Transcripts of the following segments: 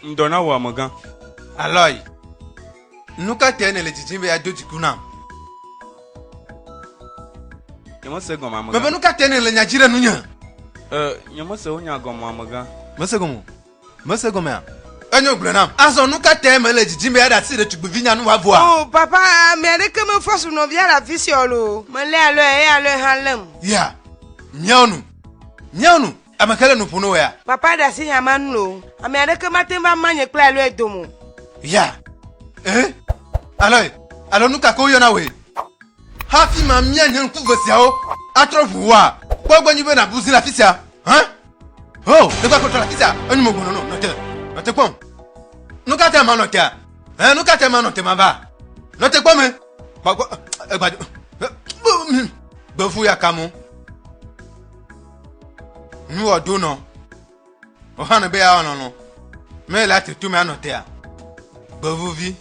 Ŋdɔ na wò amegã. Aloy, nu ka tae nèle didim be yeado dziku nam? Nyemese gɔme amegã. Mebe nu ka tae nèle nya dzi ɖe nunye? Nyemese wò nya gɔme amegã. Mese gɔme o. Mese gɔmea? Enyo gblɔe nam. Azɔ nu ka tae mele didim be aɖe asi ɖetugbivinya nu wòavɔa? O, Papa, ame aɖeke mefɔ su nɔvia le afi sia o loo. Melé alɔe, eye alɔe hã lém. Ya, miawo nu, miawo nu. Ame kae le nu ƒom na wòa? Papa, ɖe asi hã manu loo. Ame aɖeke mate ŋu va ma nye kple alɔe dome o. Ya, ẽ, alɔe, alo nu ka ke woyɔna wòe. Hafi mamia nye ŋku ve siawo atrɔ ʋu wòa, kpɔ egbɔ nyuie be nàbu zi le afi sia. Hã? Oh, ne kɔ kɔtɔ la ti sa, enu mo gbɔnɔ nɔ, nɔ te, nɔ te kpɔm. Nu ka te ma nɔ tea? Hɛn, nu ka te ma nɔ te ma ba? Nɔ te kpɔm me. Ba gbɔ, egba do. Gbevu ya kamu. Nu wɔ do nɔ. O hã ne be ya nɔ nɔ. Me la te tu me anɔ tea. Gbevuvi.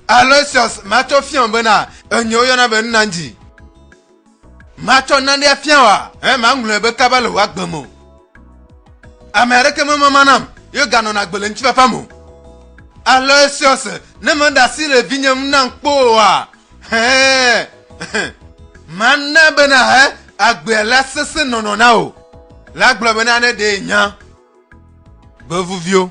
Aloysius, ma to fiɔn bena, enyo yɔna be nna nji. Matsɔ nane afia wòa? Eye maŋlɔe be kaba le wò agbe me o. Ame aɖeke memama nam, ye ganɔna agbe le ŋutifafa me o. Alɔ esiɔse, ne meɖe asi le vinye ŋu nam kpɔ oa? Hɛ̃! Mana be nàhe agbea la sesẽ nɔnɔ na wò. La gblɔ bena ne ɖee nya gbevuviwo.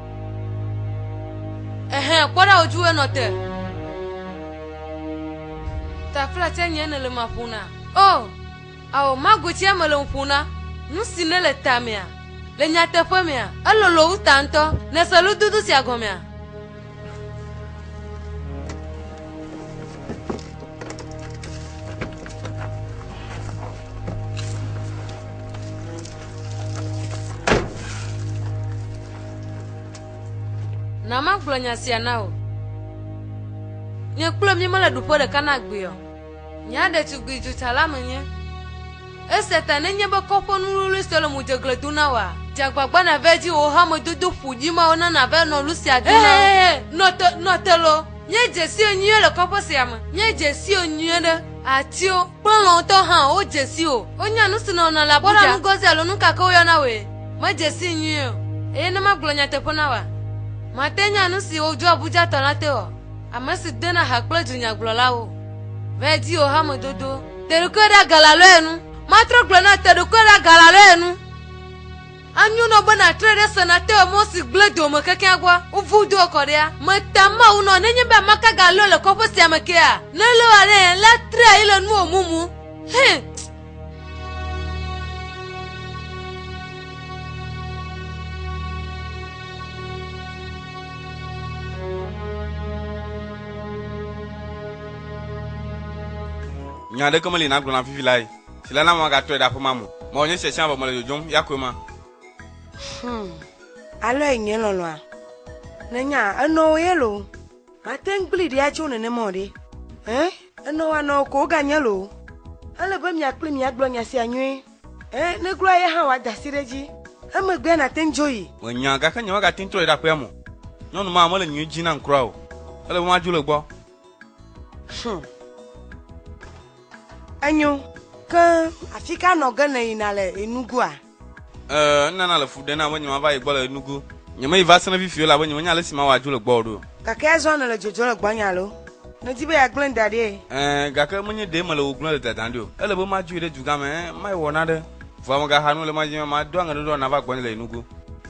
Ehe, kpɔ ɖa wòdzi wòe nɔ te. Ta kple atia nye ne le ma ƒona. O, oh, ao, mago tsia me le ƒona. Nu si ne le ta mea, le nyateƒe mea, elolo wu ta ŋutɔ. Nese lududu sia gɔmea? Na magblɔ nya sia na wò. Nye kple mi mele ɖuƒe ɖeka na gbee o. Nya ɖetugbui dzotsala menye. Esia ta nenye be kɔƒe nuwluwlui sue le modzegle dom na wòa? Dze agbagba nàva edzi wò hamedodo ƒo ɖi mawo na nàva enɔ lu sia dom na wo. Nɔ te, nɔ te loo. Míedze sio nyuie le kɔƒe sia me. Míedze sio nyuie ɖe. Atiwo kple lɔ̃tɔ hã wodze si o. Wonya nu si nɔ wɔna le Abuja. Kpɔ ɖa Ngozi alo nu ka ke woyɔna wòe, medze sii nyuie o, eye ne magblɔ nyateƒe na wòa, màte anya nu si wodzro Abujatɔ la te o, ame si dona ha kple dunyagblɔlawo. Vɛ di wò hamedodo. Te ɖokuiwò ɖe agalaloe nu. Matrɔ gblɔ na wò, te ɖokuiwò ɖe agalaloe nu. Anyo nɔ be na tre ɖe se na te emɔ si gble do me kekeŋ gua ŋu vu do ekɔ ɖea? Me ta Mawu nɔ nenye be amaka ga lɔe le kɔƒe sia me kea? Ne lɔe wa ɖe yen la tre ayi le nuwo mumu. Hɛn. Nya aɖeke meli nàgblɔ na vivi lae. si le na be magatɔe ɖe aƒe ma me o. Mewɔ nye sia sia vɔ mele dzodzom ya koe ma. Hum, alɔe nye lɔlɔ̃a. Nènya, enɔ wò ye loo. Mate ŋu kplii ɖi atso nenema o ɖe. Ẽ, enɔ wò anɔ wò ko woganye loo. Ele be mia kpli miagblɔ nya sia nyuie. Ẽ, ne gloa ye hã wòada asi ɖe edzi. Emegbea nàte ŋu dzo yi. Menya, gake nyemagate ŋu trɔe ɖe aƒea me o. Nyɔnu ma mele nyui dzi nam kura o. Ele be madzo le egbɔ. Hum. Enyo. Ke afi ka nɔ ge nèyina le Enugu-a? Ɛɛ, enana le fu ɖem nam be nyemava yi gbɔ le Enugu. Nyemeyi va sena fifi o elabe nyemenya ale si mawɔ adzo le gbɔwò ɖo. Gake azɔ nèle dzodzom le gbɔnye alo? Nèdi be yeagblẽm da ɖie? Ɛɛ, gake menye ɖee mele wò gblẽm le dadam ɖi o. Ele be madzoe ɖe dugã me, ɛɛ, mayi wɔ nane. Vɔa megaxa nu o le madi be mado aŋeɖoɖoa nàva gbɔnye le Enugu.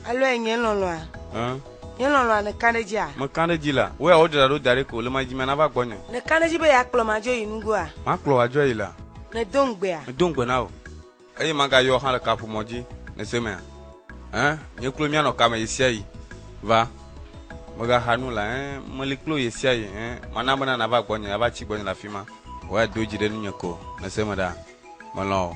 Alɔe nye lɔlɔ̃a? Ɛɛ. Nye lɔlɔ̃a nèka ɖe edzia? Meka ɖe edzi la. Wò ya wodzra ɖo da ɖi ko, le madimea nava gbɔnye. Nèka ɖe edzi be yeakplɔm adzo yi nugoa? Makplɔ wò adzo ayi la. Medo ŋugbea? Medo ŋugbe na wò. Eye magayɔ wò hã le kaƒomɔ dzi, nèse emea? Ẽ, nye kloe míanɔ kame ɣesiaɣi. Va, megaxa nu la. Ẽ, meli kple wò ɣesiaɣi. Ẽ, mana bena nàva gbɔnye, ava tsi gbɔnye le afima. Wò ya do dzi ɖe nunye ko, nèse eme ɖaa? Melɔ̃ wò.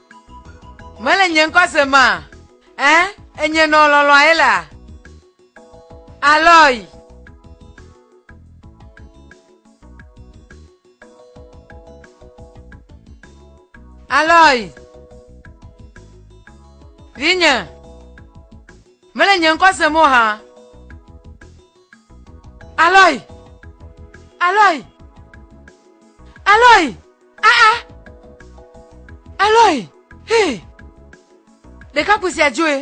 Mele nye ŋkɔ se ma. Ẽ, enye nɔ lɔlɔ̃a ye la. Alɔyi. Alɔyi. Vinye. Mele nye ŋkɔ se mo ha. Alɔyi. Alɔyi. Alɔyi. Aa! Eloi! Hii! Ɖekakpui sia dzoe.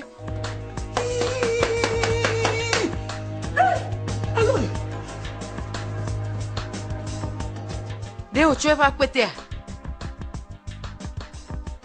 Ɖe wòtsɔ eƒe akpetea?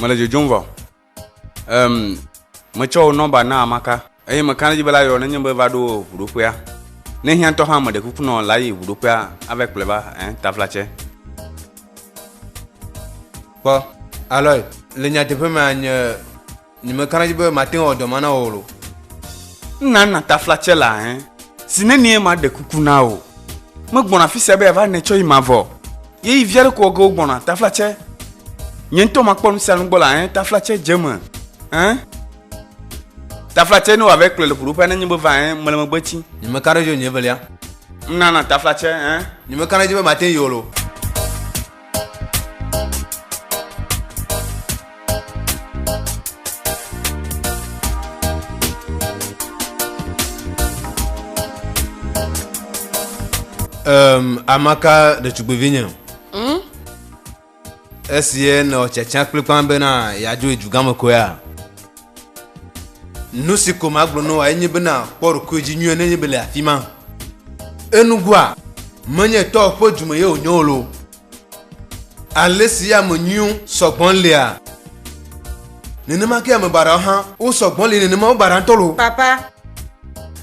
Mele dzodzom vɔ. Um, metsɔ wò nɔmba na Amaka eye meka ɖe edzi be la yɔ nenye be va ɖo ʋuɖoƒea. Ne hiã ŋutɔ hã meɖe kuku nɔ la yi ʋuɖoƒea ava kplɔe va eh, taflatsɛ. Kpɔ, Aloy, le nyateƒe mea nye Nyi me kana dzi be mate ŋu awɔ dɔ ma na wò lo. N na na tafla tse la hɛn. Si ne nie ma ɖe kuku na wò. Me gbɔna afisia be ya va nɛ tsɔ yi ma vɔ. Ye yi via ɖe ko ɔge wo gbɔna tafla tse. Nye ŋutɔ ma kpɔ nu sia nu gbɔ la hɛn tafla tse dze me hɛn. Tafla tse ne wa vɛ kplɔe le ƒoɖo ƒea ne nye be va hɛn mele megbe tsi. Nyi me kana dzi o nyi evelia. N na na tafla tse hɛn. Nyi me kana dzi be mate ŋu yi o lo. Um, amaka ɖetugbevi nye hmm? esie nɔ tsatsa kplikpan bena yeadzo edugame koe ya Nu si ko magblɔ na wòa enye bena kpɔ ɖokuiwò dzi nyuie nenye be le afi ma. Enugoa, menye tɔwò ƒe du me ye wònye wò lo. Ale si ame nyuiwo sɔ gbɔ lea, nenema ke ame baɖawo hã wosɔ gbɔ li nenema wobaɖa ŋutɔ lo. Papa,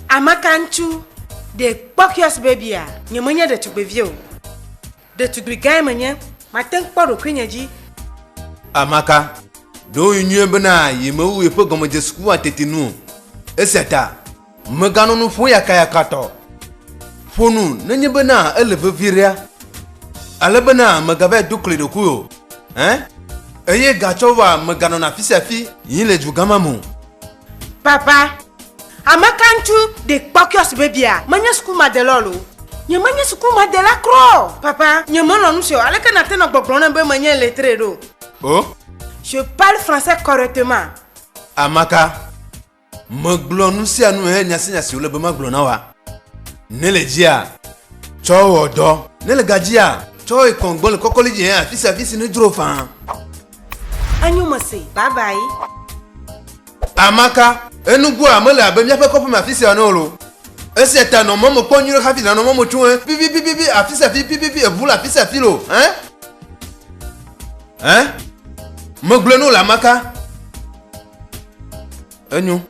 ameka ŋutsu ɖe kpɔ kiosk bebia? Nyemenye ɖetugbevi o. Ɖetugbui gãe menye, mate ŋu kpɔ ɖokuinye dzi. Amaka, ɖo ŋui nyuie bena yemewu yeƒe gɔmedzesekukua tete nu o, esia ta meganɔ nu ƒom yakayakatɔ. Ƒo nu nenye bena ele vevie ɖea, ale bena megavae do kli ɖokui o, ẽ, eye gatsɔwoa meganɔna afisiafi yim le dugã ma me o. Baba, ameka ŋutsu ɖe kpɔ kiosk bebia? Menye sukumadela o. Nyemenye sukumadela kura o. Papa, nyemelɔ̃ nu sia o. Aleke nàte nɔ gbɔgblɔm nam be menye illettré ɖo? O. Je parle français correctement. Ameka, megblɔ nu sia nu he nya sia nya si wòle be magblɔ na wòa? Ne le dzia, tsɔ wɔ dɔ. Ne le gadzia, tsɔ yi kɔn gbɔ le kɔkɔli dzi he afisia afisi nedzro faa. Enyo mese. Bye bye. Amaka, Enugua mele abe míaƒe kɔƒeme afisia ene olo. Esia ta nɔ mɔme kpɔm nyuiɖe hafi nànɔ mɔme tso ẽ. Pipipipipi afisia afi pipipi eŋu le afisia afi lo. Ẽ? Ẽ? Megblɔe no le Amaka. Enyo.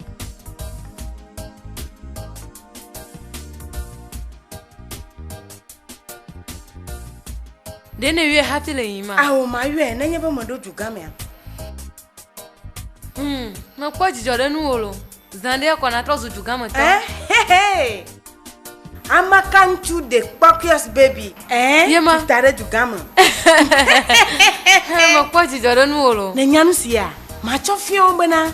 ɖe ne yɔe hati le yima ao mayɔe nenye be meɖo dugamea hmm, mekpɔ dzidzɔ ɖe nuwo lo zã ɖe kɔ natrɔ zu dugametɔ eh, amaka ŋutsu de kpɔkios baby eh, yema ta ɖe dugame mekpɔ dzidzɔ ɖe nuwo lo ne nya nu sia matsɔ fiawo bena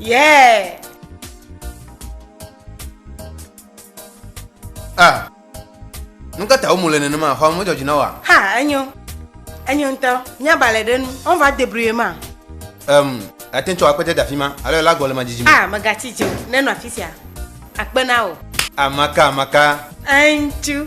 Yeah. Ah. Nu ka ta wo mu le nenema? Xɔa me dzɔ dzi na wa? Ha, enyo. Enyo ŋutɔ. Mía balɛ ɖe nu. On va débrouiller ma. Um, ate tsɔ akpete da fi ma. Alo ela gɔ le ma dzidzi me. Ah, megatsi dzi o. Nenɔ afi sia. Akpe na o. Amaka, amaka. Eŋtsu.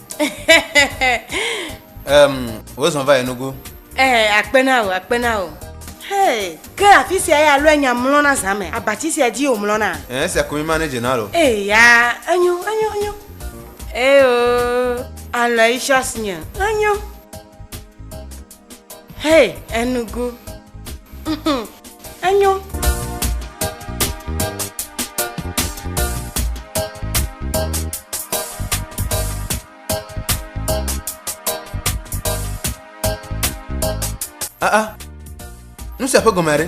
um, wozɔ va yi nugu ee eh, akpe na o akpe na o Hey, ke afi sia ya lɔe nya mlɔna zã me abati sia dzi wòmlɔna eh, esia ko mi ma ne dze na lo eya eh, enyo enyo enyo eyo alɔ yi sɔs nye enyo Hey, enugu. Mhm. Enyo. Ah ah. Nu sia ƒe gɔmea ɖe?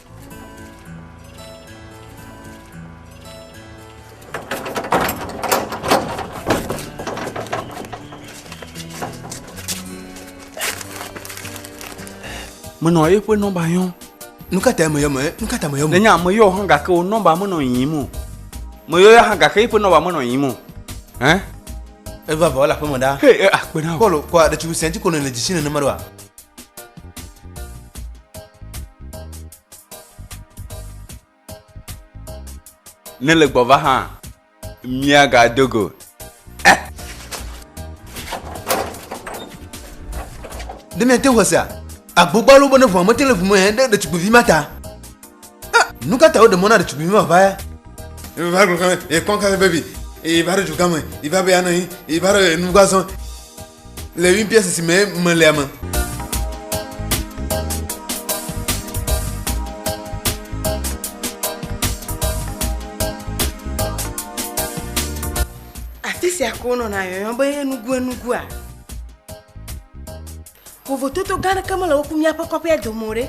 menɔ eƒe nɔmba yɔm nu ka ta meyɔ me nu ka ta meyɔ me nenya meyɔ hã gake wo nɔmba menɔ yiyim o meyɔ ya hã gake eƒe nɔmba menɔ yiyim o hɛn eva vɔ le aƒeme ɖa he akpe na o kɔlu kɔ aɖetsi sɛnti kɔnɔ le dzisi nenema ɖo wa Ne le gbɔva hã, míagado go. Eh. Ne miate ŋu sea, agbogbo alo bene ʋua mete le ʋu me hɛn ɖe ɖetugbivi ma ta. Eh, nu ka ta woɖe mɔ na ɖetugbivi ma va ya? Ìva gblɔ kame, ekpɔ kame vevi, ìva ɖe dugã me, ìva be anɔ anyi, ìva ɖe nugbazɔ. Le ŋuibiã sisi me melea me. Afi sia ke wonɔna yɔyɔ be enuguenugua. Vovototo gã aɖeke mele wo ku míaƒe kɔƒea dome o ɖe.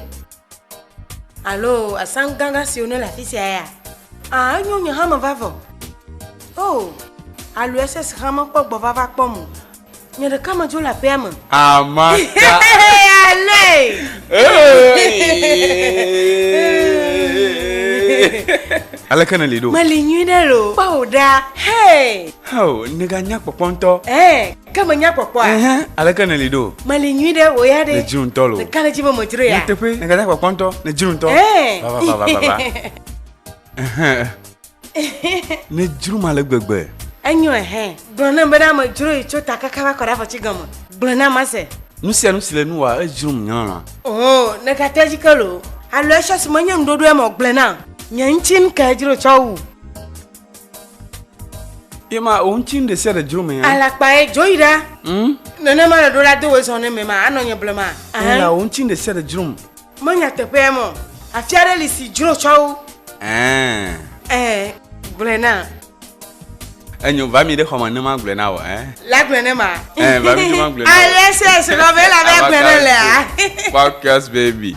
Alo asan gãgã siwo ne le afi sia ya? A, enyo nye hame vavɔ. O, alo SS hame kpɔ gbɔ vava kpɔm o. Nye ɖeka me dzo le aƒea me. Amaka. Aleke ne li ɖo? Meli nyui ɖe lo. Kpɔ o ɖa. Hey. Heo, nèganya kpɔkpɔ ŋutɔ. Eh. Ke menya kpɔkpɔa? Ɛhɛn, aleke nèli ɖo? Meli nyui ɖe, wò ya ɖe? Le dzro ŋutɔ lo. Ɖeka le dzi be medzro ya. Nyateƒe, nègada kpɔkpɔ ŋutɔ, le dzro ŋutɔ. Ɛɛ. Va, va, va, va, va, va. Ɛhɛn. Nedzro ma le gbegbe. Enyo ɛhɛn. Gblɔ nam be ɖa medzro yi tso ta kaka va kɔ ɖe afɔti gɔme. Gblɔ na mase. Nu sia nu si le nu wòa, edzrom nyɔlɔlɔa. Oo, nègate edzi ke loo. Alo etsɔ si menye nuɖoɖoe me o, gblɔe nam. Nye ŋuti ŋkee dzro tsɔ wu. ye ma o ŋutsi nu ɖe sia ɖe dzro me ya. alakpa ye dzo yi ɖa. Hmm? nenema le ɖo la do wezɔn ne me ma anɔ nye blema. ye la o ŋutsi nu ɖe sia ɖe dzro me. menya teƒea mɔ afia ɖe li si dzro tsɔ wo. ɛɛ. ɛɛ gblɔe na. enyo va mi ɖe xɔme ne ma gblɔe na wɔ ɛ. la gblɔe ne ma. ɛɛ va mi ne ma gblɔe na wɔ. ayɛ sɛ sɛ lɔ bɛ la bɛ gblɔe ne lɛa. podcast baby.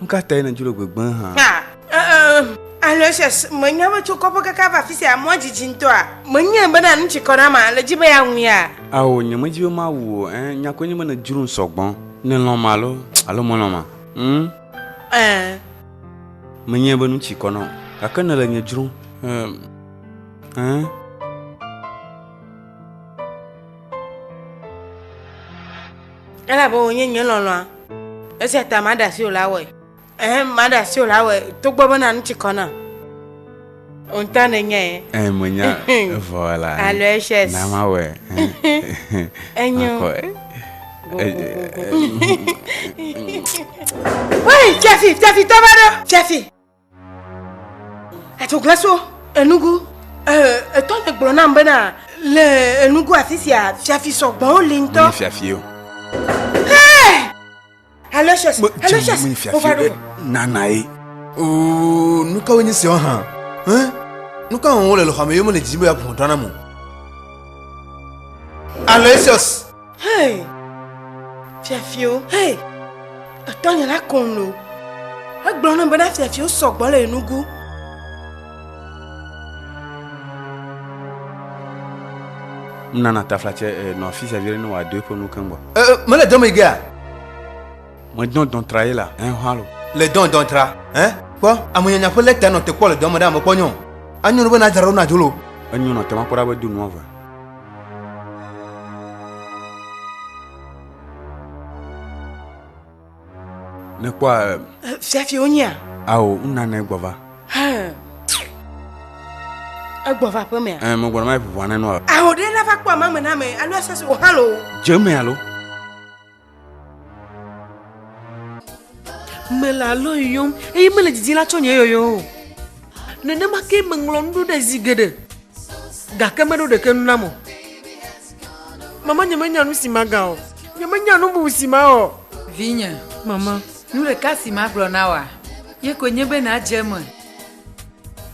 Nu ka tae nèdzo le gbegbe hã? Aloysius, mènya be tso kɔƒe kaka va afi sia mɔa didi ŋutɔa? Menyae bena nu tsi kɔ na ma, nèdi be yeawuia? Ao, nyemedi be mawu wò o. Ɛ̃, nya koe nye be nèdzrom sɔ gbɔ. Nèlɔ̃m alo, alo mèlɔ̃m ma? Hm? Ɛ̃. Menyae be nu tsi kɔ na wò, gake nèle nye dzrom. Ɛ̃. elabe wònye nye lɔlɔ̃a esia ta maɖe asi wòla wɔe ehe maɖe asi wòla wɔe togbɔ bena nu tsi kɔ nam ŋutɔ nenye ye Eh, menya evɔ la. eh. Alo ehyes. Na mawɔe. eh. Enyo. Makɔ, eh. Woi, Fiafi, Fiafi, tɔ va ɖo. Fiafi. Etsoglaso enugu etɔ ne gblɔ nam bena le enugu afi sia fiafi sɔgbɔwo li ŋutɔ. Menye fiafi o. Aloysius, Aloysius, wova ɖo. Nana ye. Oo, nu kawoe nye siawo hã? Nu ka wɔm wole le xɔa me ye mele didim be yeaku hlɔ̃drɔ̃ nam o? Aloysius! Hei! Fiafiwo, hei! Etɔnye la kɔn lo. Egblɔ na bena fiafiwo sɔgbɔ le enugu. Nana tafla tse eh, nɔ afi sia vi ɖe ne wòado eƒe nu keŋ gbɔ. Eh, eh, mele dɔn me gea? Medɔn dɔn tra ye la, eh, halo. Le dɔn dɔn tra, eh? Kpɔ, amenyanya ƒe lɛta nɔ te kpɔ le dɔn me ɖe ame kpɔ nyɔ. Anyo be na dzra ɖo na dzolo. Enyo nɔ te makpɔ ɖa be do nua vɔ. nekpɔ eh, eh, fiafi wonyia ao nunana egbɔva egbɔva ƒe mea eh, megbɔna ma ƒoƒoa nenɔ ao ɖe nava kpɔ amame na me alo asase wòhã lo dze me alo Mele alɔ yɔm eye mele didi la tsɔ nye yɔyɔ o. Nenema ke meŋlɔ nu ɖo ɖe zi geɖe gake meɖo ɖeke nu nam o. Mama nyemenya nu si maga o. Nyemenya nu bubu si mawɔ. Vinye. Mama. Nu ɖeka si magblɔ na wòa, ye koe nye be nàdze eme.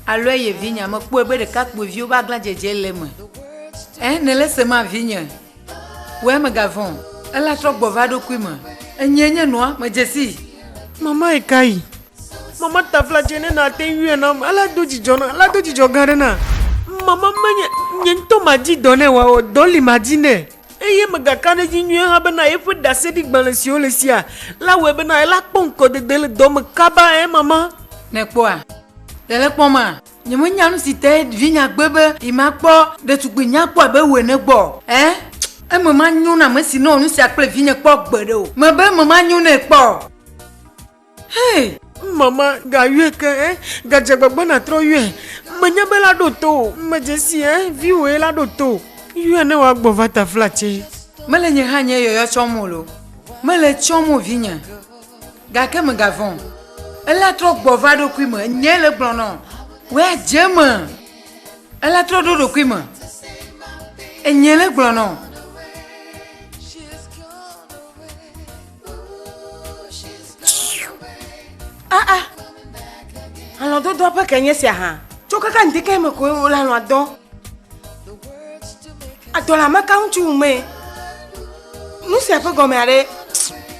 Alɔ eye vinyea, mekpɔe be ɖekakpuiviwo ƒe aglãdzedze le eme. Ẽ, nèle esema, vinye? Wòe megavɔ̃, ela trɔ gbɔ va eɖokui me. Enyee nye nua, medze sii. Mama yi ka yi? Mama ta fla dzɛ ne nàte ŋui nam. Alea do dzidzɔ na, alea do dzidzɔ gã ɖe na. Mama menye nye ŋutɔ madi dɔ nɛ wòawɔ, dɔ li madi nɛ. Eye megaka ɖe edzi nyuie hã bena yeƒe ɖaseɖigbalẽ siwo le sia la wɔe bena ela kpɔ ŋkɔdede le dɔ me kaba. Ɛ̃, Mama. Nèkpɔa? Ɖe le kpɔma? Nyemenya nu si tae vinya gbe be yemakpɔ ɖetugbui nyakpɔ abe wò ene gbɔ o. Ẽ? Eme manyo na ame si nɔ nu sia kple vinye kpɔ gbeɖe o. Mebe eme manyo nɛ kpɔ o. Hee! Mama, gayɔe ke, ẽ? Gadze agbagba nàtrɔ yɔe. Menya be la ɖo to wò. Medze sii, ẽ? Viwòe la ɖo to wò. Yɔe ne wòagbɔ va taflatse. Mele nye hã nye yɔyɔ tsɔm o loo. Mele tsɔm o, vinye. Gake mègavɔ̃ o. Ela trɔ gbɔ va eɖokui me. Enyae le egblɔ nɔ. Wɔ adze eme. Ela trɔ ɖo ɖokui me. Enyae le egblɔ nɔ. Ah ah. Alɔdodoa ƒe ke nye sia hã. Tso kaka ŋdeke me koe wole alɔa dɔ. Adɔla maka ŋutsu ŋumee. Nu sia ƒe gɔme aɖe.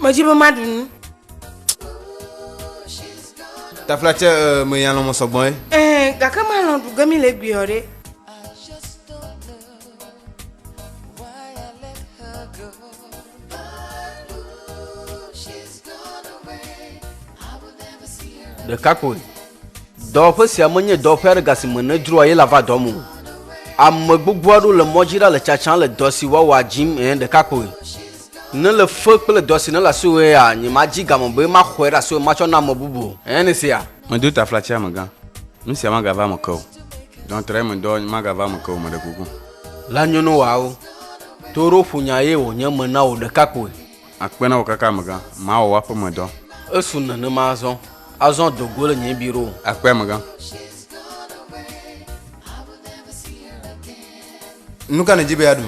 Medzi be maɖu nu. Tafla tse eh, me ya lɔmɔ sɔgbɔ ye. Eh, gake malɔ ɖu ge mi le gbiɔ ɖe. ɖeka koe dɔwɔƒe sia menye dɔwɔƒe aɖe gasi me nedzroa ye la va dɔ mu ame gbogbo aɖewo le mɔdzi ɖa le tsatsam le dɔ si woawɔ adzim ɛ ɖeka koe Ne le fe kple dɔ si ne le asiwòe ya, nyemadzi game be maxɔe ɖe asiwò matsɔ na ame bubu o. Ènya nu sia? Medo taflatsi amegã. Nu sia magava eme ke o. Dɔntrɔe medɔ magava eme ke o, meɖe kuku. La nyono wòawo. To ɖo ƒonya ye wònye me na wò ɖeka koe. Akpe na wò kaka amegã. Mawɔ w'aƒemedɔ. Esu nenema azɔ. Azɔ do go le nye biro. Akpe amegã. Nu ka nèdzi be yeaɖu?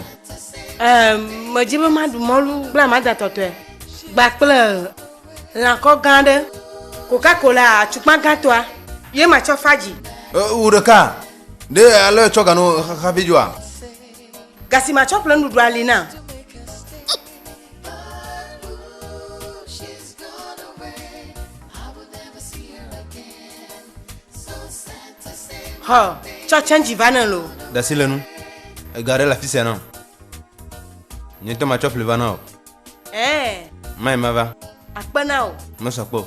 Ehm, medzi be maɖu mɔlu kple amada tɔtɔe gba kple lãkɔ gã aɖe, Coca-Cola atukpa gãtɔa ye matsɔ fa dzi. Wu ɖeka ɖe alɔ etsɔ gano hafi dzoa? Ga si matsɔ ƒle nuɖuɖua li na. Hɔ, tsɔ tsɛntsi va ne lo. Dasi le nu. Ega ɖe le afisia na o. Nye ŋutɔ matsɔ ƒli va na o. Ɛɛ. Mai mava. Akpe na o. Mesɔ kpe o.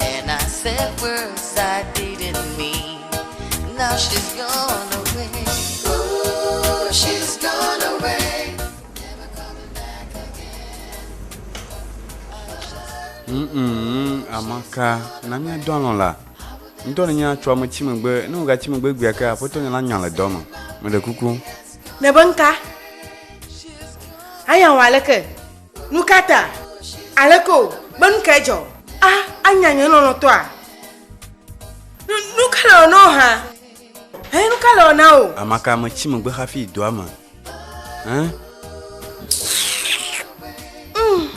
And I said words I didn't mean. Now she's gone away. Ooh, she's gone away. Never coming back again. Mm-mm, amaka na mía dɔ alɔ̃ la ŋdɔ ne nya tso ame tsi megbe ne wògatsi megbe gbea ke aƒetɔ nya la nya le dɔ me meɖe kuku Nebe nka? Aya wa leke? Nu ka ta? Aleke o? Be nu kae dzɔ? A, anya nye lɔlɔ̃tɔa? Nu, nu ka le ɔna o hã? Hẽ, nu ka le ɔna o? Amaka metsi megbe hafi yi doa me. Hẽ? Mm.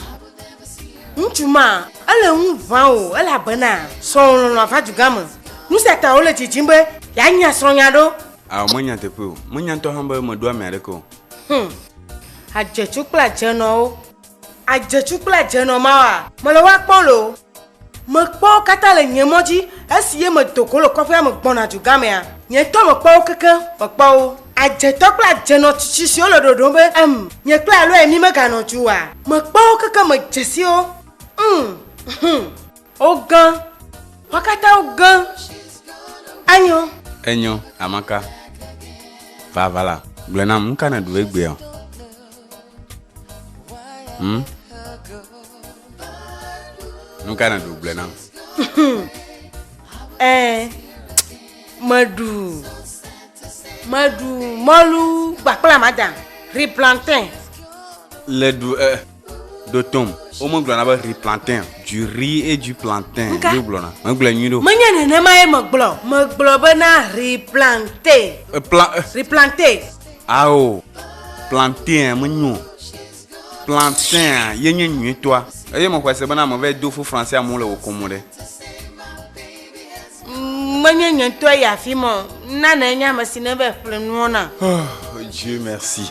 Ŋutsu ma, ele ŋu ʋã o, elabena srɔ̃wò lɔlɔ̃a va dugã me. Nu sia ta wole didim be yeanya srɔ̃nya ɖo. Ao, menya teƒe o. Menya ŋutɔ hã be meɖo ame aɖeke o. Hum. Adzetsu kple adzenɔwo. Adzetsu kple adzenɔ mawa. Mele wa kpɔ le o. Mekpɔ wo katã le nye mɔ dzi esi ye medo go le kɔƒea me gbɔna dugamea. Nye ŋutɔ mekpɔ wo kekeŋ mekpɔ wo. Adzetɔ kple adzenɔ tsitsi siwo le ɖoɖom be, Em, nye kple Aloy mímeganɔ du oa? Mekpɔ wo kekeŋ medzesi wo. Hum. Hum. Ogã. Wo katã wogã. Enyo. Enyo, Amaka. Vavala, gblɔe nam, nu ka nèɖu egbea? Hm? Nu ka nèɖu gblɔe nam? Eh, meɖu. Meɖu mɔlu gbakpla mada, ri plantain. Le ɖu eh. ɖo tom womegblɔna be ri plantain du ri et du plantain Nka? yo gblɔna megblɔe nyui ɖo Menye nenema ye megblɔ. Megblɔ be na replante. E, pla- e, Replante. ao plantain menyo plantain a, ye nye nyuitɔa eye mexɔe se bena meva yi do fo français amewo le wò kom ɖe Mm, Menye nye ŋutɔ yi afi ma o. Nana enye ame si neva ƒle nuwo na. oh, dieu merci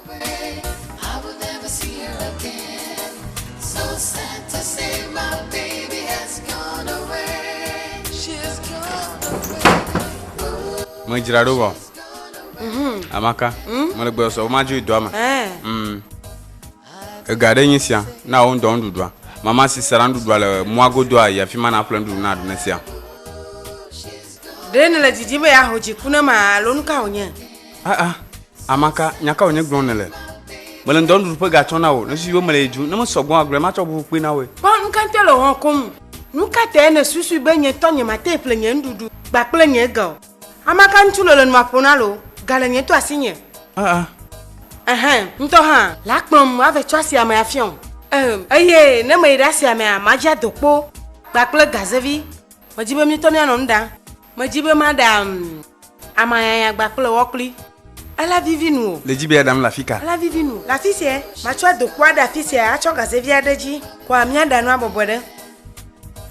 Medzra ɖo vɔ. Mhm. Amaka. Hmm? Mele gbɔ sɔ, woma dzo doa me. Eh. Hmm. Ega ɖe nyi sia, na wo ŋdɔ nuɖuɖua. Mama si sara nuɖuɖua le mɔa godo a yi afi ma na ƒle nuɖuɖu na ɖune sia. Ɖe nele didi be ya ho dziku ne ma alo nuka wònye? aa amaka nyaka wònye gblɔm nèle mele ŋdɔ nuɖuɖu ƒe gatsɔ na wò nesusu be mele yi dzu ne mesɔgbɔ agblɔe matsɔ ʋuʋu kpui na wòe Kpɔ nu ka te le wɔm koŋ. Nu ka tae nèsusui be nye tɔ nyemate ŋu ƒle nye nuɖuɖu kpa kple nye ga o? Amaka ŋutsu lolo nu maƒo na loo, ga le nye to asinye. aa Ɛhɛ̃, ŋutɔ hã. Le akplɔm mave tso asiamea afia o. Em, eye ne meyi ɖe asiamea, madzra dokpo kpakple gazevi. Medi be míetɔ míanɔ nu ɖam. Medzi be maɖa amayanya gba kple wɔ kpli. Ela vivi nu o. Le dzi be aɖam le afika? Ela vivi nu le afisia. Matsɔ adokpo aɖe afisia atsɔ gaze vi aɖe dzi kɔa miaɖa nua bɔbɔe ɖe.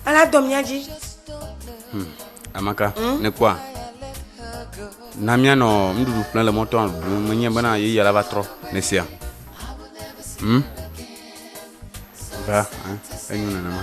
Ela dɔ mia dzi. Hum, Amaka, hmm? ne kpɔa. Na mianɔ nuɖuɖu ƒle le mɔtɔa ɖum menye bena yeyia la va trɔ ne sia. Hmm? Ba, eh, enyo nenema.